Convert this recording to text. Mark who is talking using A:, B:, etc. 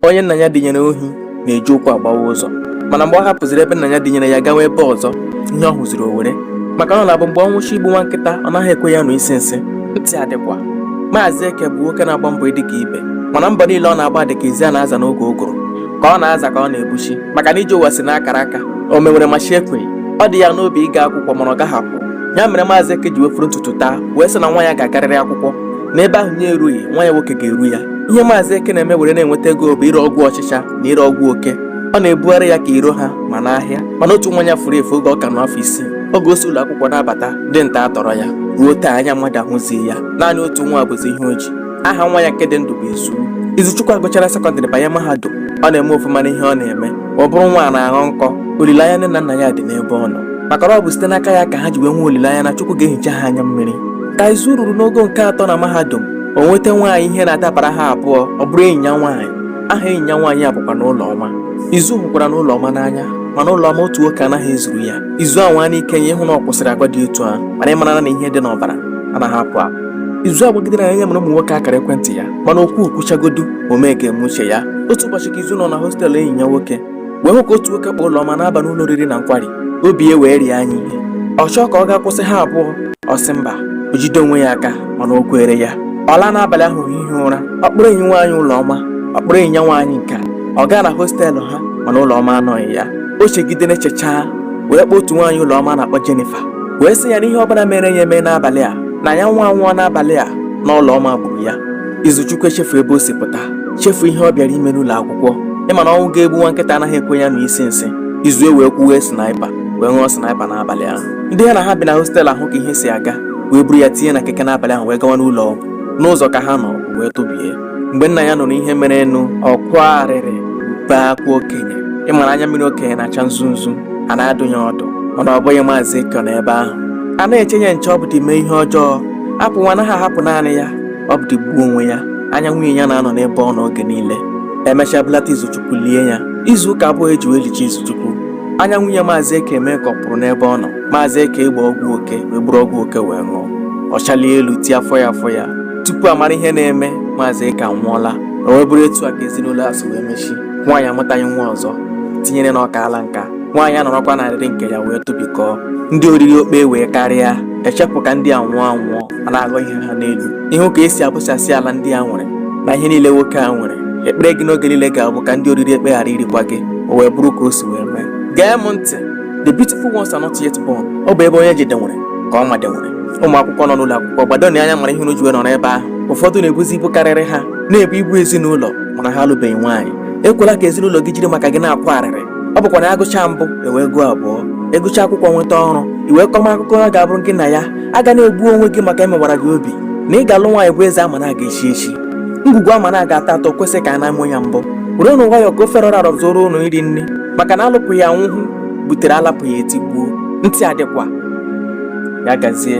A: onye nna ya dịnyere ohi na-eji ụkwụ agbawa ụzọ mana mgbe ọ hapụziri ebe nna ya dịnyere ya gawa ebe ọzọ ihe ọ hụziri o were maka na ọ na-abụ mgbe ọnwụ chọ igbu nwa nkịta ọ naghị ekwe ya nụ isi nsị ntị adịkwa maazị eke bụ nwoke na-agba mbọ ịdị ka ibe mana mbọ niile ọ na-agba dị ka ezi a na-aza n'oge ụgụrụ ka ọ na-aza ka ọ na-ebuchi maka na ije ụwa si n'akara aka omewere ma chi ekweghị ọ dị ya n'obi ịga akwụkwọ mana ọ gaghị akwụ ya mere maazị eke ji wee foro ntutu taa wee sị na nwa ya ga-agarịrị akwụkwọ na ebe ahụ ya erughị nwa ya nwoke ga-eru ya ihe maazị eke na-eme were na-enweta ego bụ ire ọgwụ ọchịcha na ire ọgwụ oke ọ na-ebugharị ya ka iro ha ma n'ahịa mana otu nwa ya furu efu oge ọ ka nọ afọ isii oge o si ụlọ akwụkwọ na-abata ndị ntọ atọrọ ya ruo taa anya mmadụ ahụzi ya naanị otu nwa bụzi ihe o ji aha nwa ya nke dị ndụ bụ Izu Izuchukwu agụchara sekọndịrị banye mahadum ọ na-eme ofụma n'ihe ọ na-eme ọ bụrụ nwa na-aghọ nkọ olileanya nne na nna ya dị n'ebe ọ nọ maka na ọ bụ site n'aka ya ka ha ji wee nwee olileanya na Chukwu ga-ehicha ha anya mmiri ka Izu ruru n'ogo nke atọ na mahadum o nweta nwaanyị ihe na-adabara ha abụọ ọ bụrụ enyi ya nwaanyị aha enyi ya nwaanyị a bụkwanụ Ụlọma izu hụkwaranụ Ụlọma n'anya mana Ụlọma otu nwoke anaghị ezuru ya izu anwaanụ ike ya ịhụ na ọ kwụsịrị agwa dị otu ahụ mana ị mara na ihe dị n'ọbara anaghị apụ apụ izu agwagidere anya mara ụmụ nwoke akara ekwentị ya mana okwu kwuchagodu omee ga-eme uche ya otu ụbọchị ka izu nọ na hostelụ enyi ya nwoke wee hụ ka otu nwoke kpọ Ụlọma na-aba n'ụlọ oriri na nkwari obi ya wee rie ya ihe ọ chọọ ka ọ gaa kwụsị ha abụọ ọ sị mba o jide onwe ya aka mana o kwere ya ọ laa n'abalị ahụ hie ụra ọ kpọrọ enyi nwaanyị Ụlọma ọ kpọrọ enyi ya nwaanyị nke a ọ gaa na hostelụ ha mana Ụlọma anọghị ya o chegide na-echechaa wee kpọọ otu nwaanyị Ụlọma na-akpọ Jennifer wee sị ya na ihe ọbụla mere ya eme n'abalị a na ya nwa nwụọ n'abalị a na Ụlọma gburu ya Izuchukwu echefu ebe o si pụta chefu ihe ọ bịara ime n'ụlọ akwụkwọ ị ma na ọnwụ ga-egbu nwa nkịta anaghị ekwe ya nụ isi nsị izu ewee kwuwe sniper wee ṅụọ sniper n'abalị ahụ ndị ya na ha bi na hostel ahụ ka ihe si aga wee buru ya tinye na keke n'abalị ahụ wee gawa n'ụlọ ọgwụ n'ụzọ ka ha nọ wee tụbie mgbe nna ya nụrụ ihe merenụ ọ kwaa arịrị bee akwa okenye ị mara anya mmiri okenye na-acha nzu nzu a na-adụ ya ọdụ mana ọ bụghị maazị Eke nọ ebe ahụ a na-eche ya nche ọ bụdị mee ihe ọjọọ a pụwa anaghị ahapụ naanị ya ọ bụdị gbuo onwe ya anya nwunye ya na-anọ n'ebe ọ nọ oge niile e mechaa bulata izuchukwu lie ya izu ụka abụọ e ji wee lichaa izuchukwu anya nwunye maazị eke eme ka ọ pụrụ n'ebe ọ nọ maazị eke agbaa ọgwụ oke wee buru ọgwụ oke wee ṅụọ ọ chalie elu tie afọ ya afọ ya tupu a mara ihe na-eme maazị eke anwụọla o wee bụrụ etu a ka ezinụlọ a si wee mechi nwaanyị amụtaghị nwa ọzọ tinyere na ọ kaala nka nwaanyị anọrọkwa n'arịrị nke ya wee tụbikọọ ndị oriri okpe wee karịa echepụ ka ndị a nwụọ anwụọ a na-aghọ ihe ha n'elu ịhụ ka esi abụchasị ala ndị a nwere na ihe niile nwoke a nwere ekpere gị n'oge niile ga-abụ ka ndị oriri ekpe ghara irikwa gị o wee bụrụ ka o si wee mee gee m ntị the beautiful ones are not yet born ọ bụ ebe onye jedewere ka ọ madewere ụmụ akwụkwọ nọ n'ụlọ akwụkwọ gbadonụ anya mara ihe unu ji wee nọrọ ebe ahụ ụfọdụ na-ebuzi ibu karịrị ha na-ebu ibu ezinụlọ mana ha alụbeghị nwaanyị ekwela ka ezinụlọ gị jiri maka gị na-akwa arịrị ọ bụkwa na agụcha mbụ ewee gụọ abụọ ị gụcha akwụkwọ nweta ọrụ i wee kọma akụkọ ọ ga-abụrụ gị na ya agana egbu onwe gị maka emewara gị obi na ị ga-alụ nwaanyị bụ eze ama na aga echi echi ngwugwu ama na aga atọ atọ kwesị ka a na-amụ ya mbọ werenụ nwayọọ ka ofe rọrọ arọ zuoro ụnụ iri nri maka na alụpụghị anwụhụ butere alapụghị etigbuo ntị adịkwa ya gazie